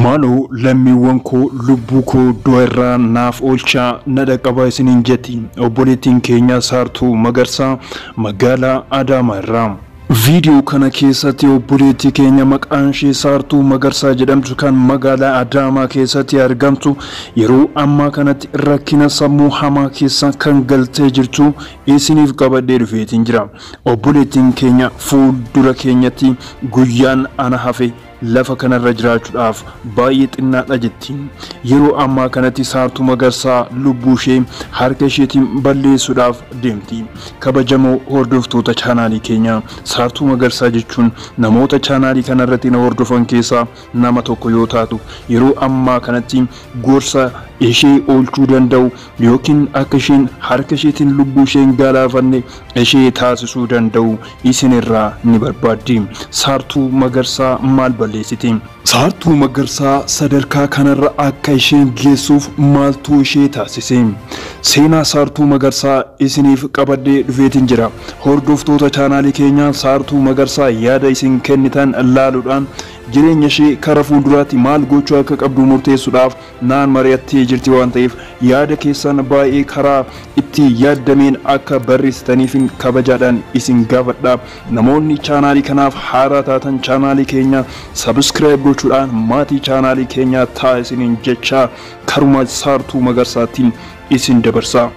Maaloo lammiiwwan koo lubbuu koo du'a irraa naaf oolchaa na dhaqqabaa isiniin jetti obboleettiin keenya Saartuu Magarsaa magaalaa Adaamaa irraa. Viidiyoo kana keessatti obboleettii keenya maqaan ishee Saartuu Magarsaa jedhamtu kan magaalaa Adaamaa keessatti argamtu yeroo ammaa kanatti rakkina sammuu hamaa keessa kan galtee jirtu isiniif qabadhee dhufeetiin jira. Obboleettiin keenya fuuldura keenyatti guyyaan ana hafe lafa kanarra jiraachuudhaaf baay'ee xinnaadha jetti. Yeroo ammaa kanatti Saartuu Magarsaa lubbuu ishee harka isheetiin balleessuudhaaf deemti. Kabajamoo hordoftoota chaanaalii keenya Saartuu Magarsaa jechuun namoota chaanaalii kanarratti na hordofan keessaa nama tokko yoo taatu yeroo ammaa kanatti gorsa ishee oolchuu danda'u yookiin akka isheen harka isheetiin lubbuu ishee hin galaafanne ishee taasisuu danda'u isin irraa ni barbaaddi. Saartuu Magarsaa maal balleessite? Saartuu Magarsaa sadarkaa kanarra akka isheen geessuuf maaltu ishee taasise? Seenaa Saartuu Magarsaa isiniif qabadhee dhufeetiin jira. Hordoftoota chaanaalii keenyaa Saartuu Magarsaa yaada isin kennitan laaluudhaan jireenya ishee kara fuulduraatti maal gochuu akka qabdu murteessuudhaaf naan mari'attee jirti waan ta'eef yaada keessaan baay'ee karaa itti yaaddameen akka barreessitaniifin kabajaadhaan isin gaafadha. Namoonni chaanaalii kanaaf haaraa taatan chaanaalii keenya subscribe gochuudhaan maatii chaanaalii keenyaa ta'aa isiniin jechaa karuma Saartuu Magarsaatiin isin dabarsa.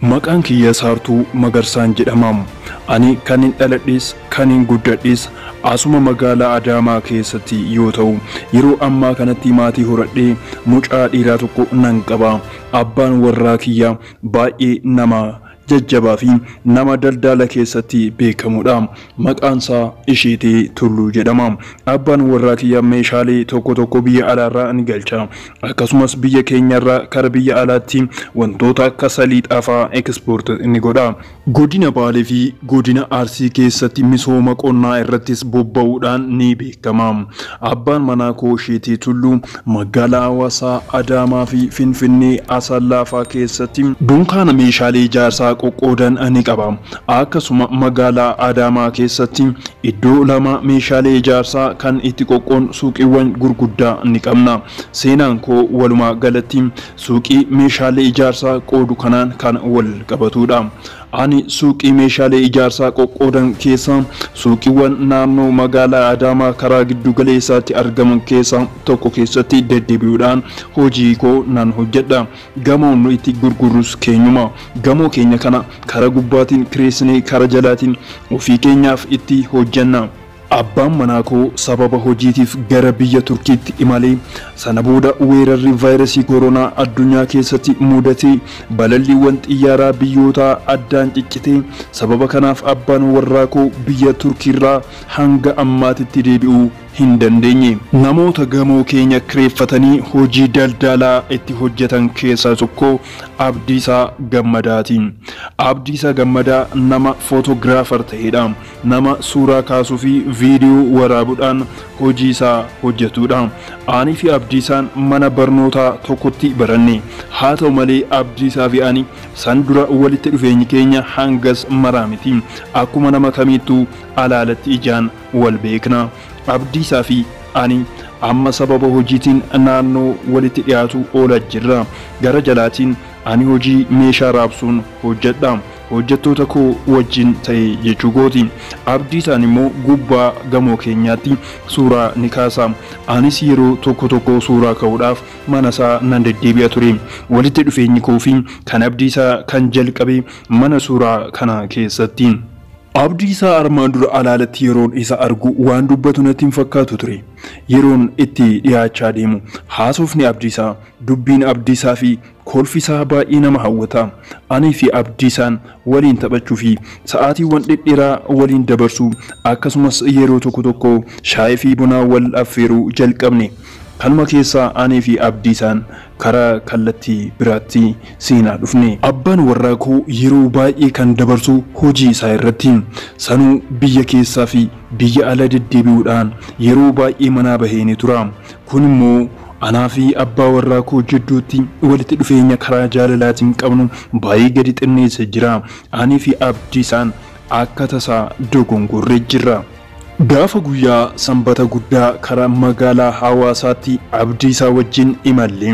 Maqaan kiyya Saartuu Magarsaan jedhama. Ani kan hin dhaladhes kan hin guddadhes asuma magaalaa Adaamaa keessatti yoo ta'u yeroo ammaa kanatti maatii horadhee mucaa dhiiraa tokko nan qaba. Abbaan warraa kiyya baay'ee nama jajjabaa fi nama daldaala keessatti beekamudha. Maqaan isaa Isheetee Tulluu jedhama. Abbaan warraa kiyya meeshaalee tokko tokko biyya alaarraa ni galcha. Akkasumas biyya keenyarraa kara biyya alaatti wantoota akka saliixaa fa'aa export ni godha. Godina Baalee fi Godina Arsii keessatti misooma qonnaa irrattis bobba'uudhaan ni beekama. Abbaan manaa koo Sheetee Tulluu magaalaa Hawaasaa, Adaamaa fi Finfinnee, Asallaa faa keessatti dunkaana meeshaalee ijaarsaa qoqqoodan ni qaba. Akkasuma magaalaa Adaamaa keessatti iddoo lama meeshaalee ijaarsaa kan itti qoqqoon suuqiiwwan gurguddaa ni qabna. Seenaan koo walumaa galatti suuqii meeshaalee ijaarsaa qoodu kanaan kan wal qabatuudha. Ani suuqii meeshaalee ijaarsaa qoqqoodan keessaa suuqiiwwan naannoo magaalaa Adaamaa karaa giddu galeessaatti argaman keessaa tokko keessatti deddebi'uudhaan hojii koo nan hojjedha. Gamoon nu itti gurgurrus keenyuma. Gamoo keenya kana kara gubbaatiin kireessinee kara jalaatiin ofii keenyaaf itti hojjenna. Abbaan manaa koo sababa hojiitiif gara biyya Turkiitti imale. Sana booda weerarri vaayirasii koronaa addunyaa keessatti mudate. Balalliiwwan xiyyaaraa biyyootaa addaan ciccite. Sababa kanaaf abbaan warraa koo biyya Turkiirraa hanga ammaatitti deebi'uu hin dandeenye. Namoota gamoo keenya kireeffatanii hojii daldaalaa itti hojjetan keessaa tokko Abdiisaa Gammadaati. Abdiisaa Gammadaa nama Photographer ta'edha. nama suuraa kaasuu fi viidiyoo waraabudhaan hojii isaa hojjetuudha. Ani fi Abdiisaan mana barnootaa tokkotti baranne. Haa ta'u malee Abdiisaa fi ani san dura walitti dhufeenyi keenya hangas maraa miti. Akkuma nama kamiittuu alaalatti ijaan wal beekna. Abdiisaa fi ani amma sababa hojiitiin naannoo walitti dhiyaatu oola jirra. Gara jalaatiin ani hojii meeshaa raabsuun hojjedha. Hojjattoota koo wajjin ta'e jechuu kooti. Abdiisaan immoo gubbaa gamoo keenyaatti suuraa ni kaasa. Anis yeroo tokko tokko suuraa ka'uudhaaf manasaa nan deddeebi'a ture. Walitti dhufeenyi koo fi kan Abdiisaa kan jalqabe mana suuraa kana keessatti. Abdiisaa armaan dura alaalatti yeroon isa argu waan dubbatu natti hin fakkaatu ture. Yeroon itti dhiyaachaa deemu haasofni Abdiisaa, dubbiin Abdiisaa fi Kolfi isaa baay'ee nama hawwata. Anii fi Abdiisaan waliin taphachuu fi sa'aatiiwwan dhedheeraa waliin dabarsuu, akkasumas yeroo tokko tokko shaayii fi buna wal affeeruu jalqabne. Kanuma keessaa anii fi Abdiisaan karaa kallattii biraatti seenaa dhufne. Abbaan warraa koo yeroo baay'ee kan dabarsu hojii isaa irratti. Sanuu biyya keessaa fi biyya ala deddeebi'uudhaan yeroo baay'ee manaa bahee ni tura. Kun immoo Anaa fi abbaa warraa koo jidduutti walitti dhufeenya karaa jaalalaatiin qabnu baay'ee gadi xinneesse jira. Anii fi Abdiisaan akka tasaa dogongorre jirra. Gaafa guyyaa Sanbata guddaa karaa magaalaa Hawaasaatti Abdiisaa wajjin imalle.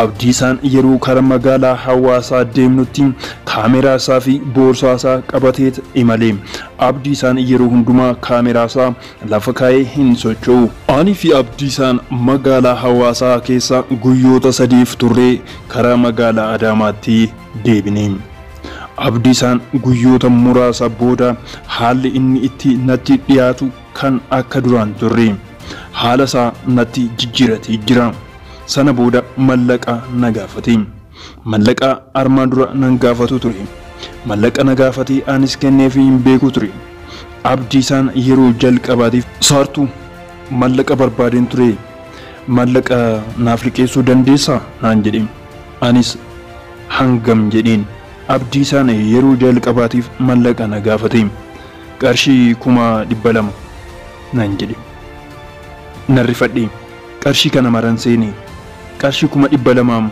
Abdiisaan yeroo karaa magaalaa Hawaasaa deemnutti kaameraa isaa fi boorsaa isaa qabateet imale. Abdiisaan yeroo hundumaa kaameraa isaa lafa kaa'ee hin socho'u. Ani fi Abdiisaan magaalaa Hawaasaa keessa guyyoota sadiif turree karaa magaalaa Adaamaatti deebine. Abdiisaan guyyoota muraasa booda haalli inni itti natti dhiyaatu kan akka duraa hin turre. Haala isaa natti jijjiiratee jira. Sana booda mallaqa na gaafate. Mallaqa armaan dura nan gaafatu ture. Mallaqa na gaafate anis kenneefii hin beeku ture. Abdiisaan yeroo jalqabaatiif. Saartuu, Mallaqa barbaadeen ture. Mallaqa naaf liqeessuu dandeessaa? naan jedhe. Anis hangam jedheen. Abdiisaan yeroo jalqabaatiif mallaqa na gaafate. Qarshii kuma dhibba lama, nan jedhe. Nan rifadhe. Qarshii kana maran seene. Qarshii kuma dhibba lamaam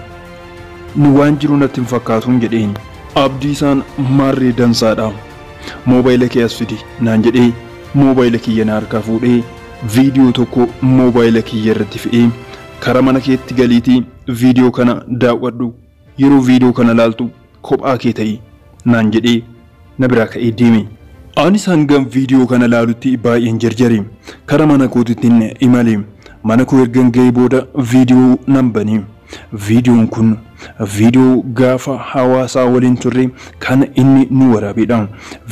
ni waan jiru natti hin fakkaatuun jedheen. Abdiisaan maarree dansaadha. Moobayila kee as fidi naan jedhee moobayila kiyya na harkaa fuudhee viidiyoo tokko moobayila kiyya irratti fe'ee kara mana keetti galiitii viidiyoo kana daaw'adhu. Yeroo video kana laaltu kophaa kee ta'i naan jedhee na biraa ka'ee deeme. Anis hangan video kana laalutti baay'een jarjare. Kara mana kootittin imale. Mana koo ergan ga'ee booda video nan bane. Videon kun video gaafa hawaasaa waliin turre kan inni nu waraabedha.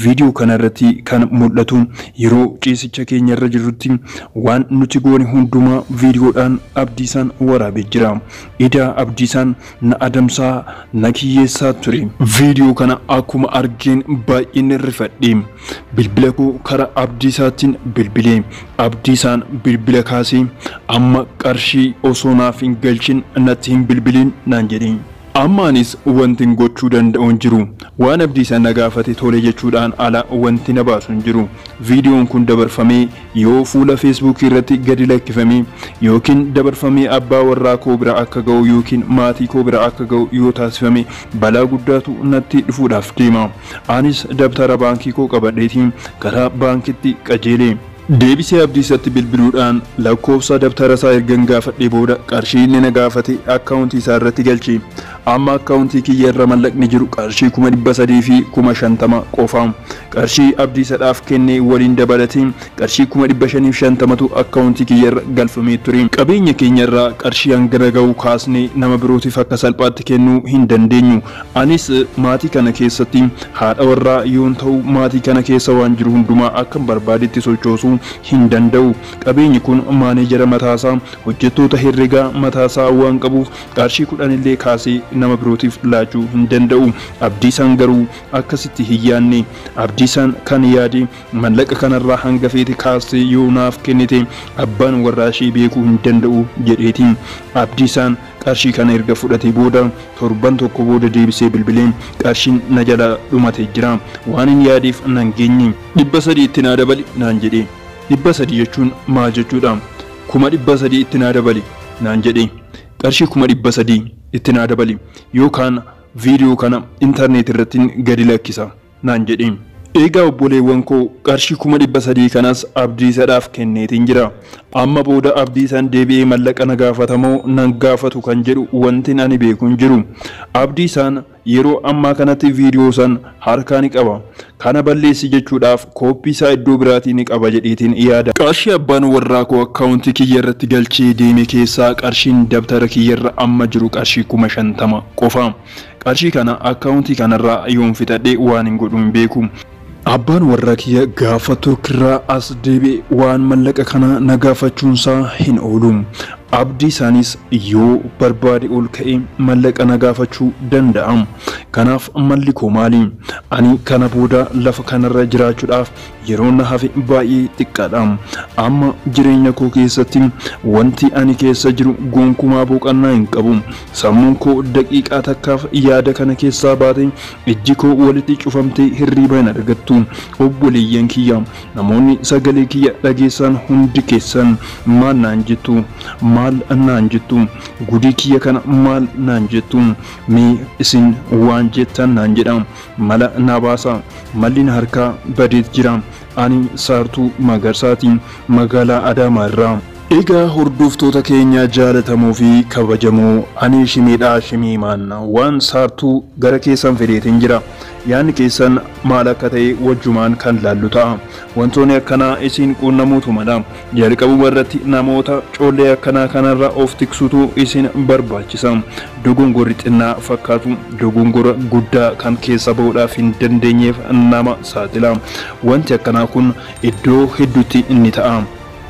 Video kana irratti kan mul'atu yeroo ciisicha keenya irra jirrutti waan nuti goone hundumaa videodhaan Abdiisaan waraabee jira. Idaa Abdiisaan na adamsaa, na kiyyeessaa ture. Viidiyoo kana akkuma argeen baay'een rifadhe. Bilbila koo karaa Abdiisaattin bilbile. Abdiisaan bilbila kaasee amma qarshii osoo naaf hin galchin natti hin bilbiliin naan jedhe. Amma anis wantin gochuu danda'u hin jiru. Waan Abdiisaan na gaafate tole jechuudhaan ala wanti na baasu hin jiru. Viidiyoon kun dabarfamee yoo fuula feesbuukii irratti gadi lakkifamee yookiin dabarfamee abbaa warraa koo bira akka ga'u yookiin maatii koo bira akka ga'u yoo taasifame balaa guddaatu natti dhufuudhaaf deema. Anis dabtara baankii koo qabadheetii gara baankitti qajeele. Deebisee Abdiisatti bilbiluudhaan lakkoofsa dabtara isaa ergan gaafadhee booda qarshii inni na gaafate akkaawuntii isaa irratti galche. Amma akkaawuntii kiyya irra mallaqni jiru qarshii kuma dhibba sadii fi kuma shantama qofa. Qarshii Abdiisadhaaf kenne waliin dabalatee qarshii kuma dhibba shanii fi shantamatu akkaawuntii kiyya irra galfamee ture. Qabeenya keenya irraa qarshii hangana gahu kaasnee nama birootiif akka salphaatti kennuu hin dandeenyu. Anis maatii kana keessatti haadha warraa yoon ta'u maatii kana keessa waan jiru hundumaa akkan barbaadetti sochoosuu hin danda'u. Qabeenyi kun maaneejera mataasaa, hojjettoota herregaa mataasaa waan qabuuf Qarshii kudhan illee kaasee nama birootiif laachuu hin danda'u. Abdiisaan garuu akkasitti hin yaadne. Abdiisaan kan yaade mallaqa kanarraa hanga feete kaastee yoo naaf kennite abbaan warraa ishee beekuu hin danda'u jedheeti. Abdiisaan qarshii kana erga fudhatee booda torban tokko booda deebisee bilbilee qarshiin na jalaa dhumate jira. Waanin yaadeef nan geenye. Dhibba sadii itti naa dabali naan jedhe. Dhibba sadii jechuun maal jechuudha? Kuma dhibba sadii itti naa dabali naan jedhee qarshii kuma dhibba sadii itti naa dabali yookaan video kana internet irrattin gadi lakkisa naan jedhee eegaa obboleewwan koo qarshii kuma dhibba sadii kanas abdiisadhaaf kenneetin jira amma booda abdiisaan deebi'ee mallaqa na gaafatamoo nan gaafatu kan jedhu wantin ani beeku hin jiru abdiisaan Yeroo ammaa kanatti video san harkaa ni qaba. Kana balleessi jechuudhaaf copy isaa iddoo biraatii ni qaba jedheetiin yaada. Qarshii abbaan warraa koo account kiyya irratti galchee deeme keessaa qarshiin dabtara kiyya irra amma jiru qarshii kuma shantama qofa. Qarshii kana account kanarraa yoon fixadhe waanin godhu hin beeku. Abbaan warraa kiyya gaafa Turkirraa as deebi'e waan mallaqa kana na gaafachuunsaa hin oolu. Abdiisaanis yoo barbaade ol ka'ee mallaqa na gaafachuu danda'a. Kanaaf malli koo maali? Ani kana booda lafa kanarra jiraachuudhaaf yeroon na hafe baay'ee xiqqaadha. Amma jireenya koo keessatti wanti ani keessa jiru gonkumaa boqannaa hin qabu. Sammuun koo daqiiqaa takkaaf yaada kana keessaa baatee Ijji koo walitti cufamtee hirriiba hin argattu. Obboleeyyan kiyya, namoonni sagalee kiyya dhageessan hundi keessan maal naan jettu? Maal naan jettu? Gudii kiyya kana maal naan jettu? Mee isin waan jettan naan jedhaa. Mala naa baasaa. Malli na harkaa badeet jira. Ani Saartuu Magarsaati. Magaalaa Adaamaa irraa. Egaa hordoftoota keenya jaalatamoo fi kabajamoo ani Shimeedhaa Shimiimaan waan Saartuu gara keessan fideetiin jira. Yaanni keessan maal akka ta'e wajjumaan kan laallu ta'a. Wantoonni akkanaa isin quunnamuutu mala. Jalqabuma irratti namoota collee akkanaa kanarraa of tiksutu isin barbaachisa. Dogongorri xinnaa fakkaatu dogongora guddaa kan keessaa ba'uudhaaf hin dandeenyeef nama saaxila. Wanti akkanaa kun iddoo hedduutti ni ta'a.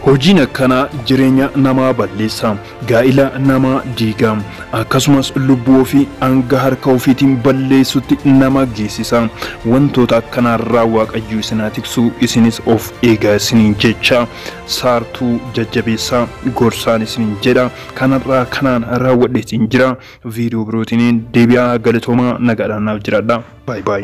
Hojiin akkanaa jireenya namaa balleessa. gaa'ila namaa diiga, akkasumas lubbuu ofii hanga harka ofiitiin balleessutti nama geessisa. Wantoota akkanaarraa Waaqayyo isin haa tiksu, isinis of eegaa isiniin jecha, saartuu jajjabeessaa, gorsaan isiniin jedha. Kanarraa kanaan raawwadhee siin jira. Viidiyoo birootiin deebi'aa galatoomaa nagaadhaan naaf jiraadhaa. Baay baay.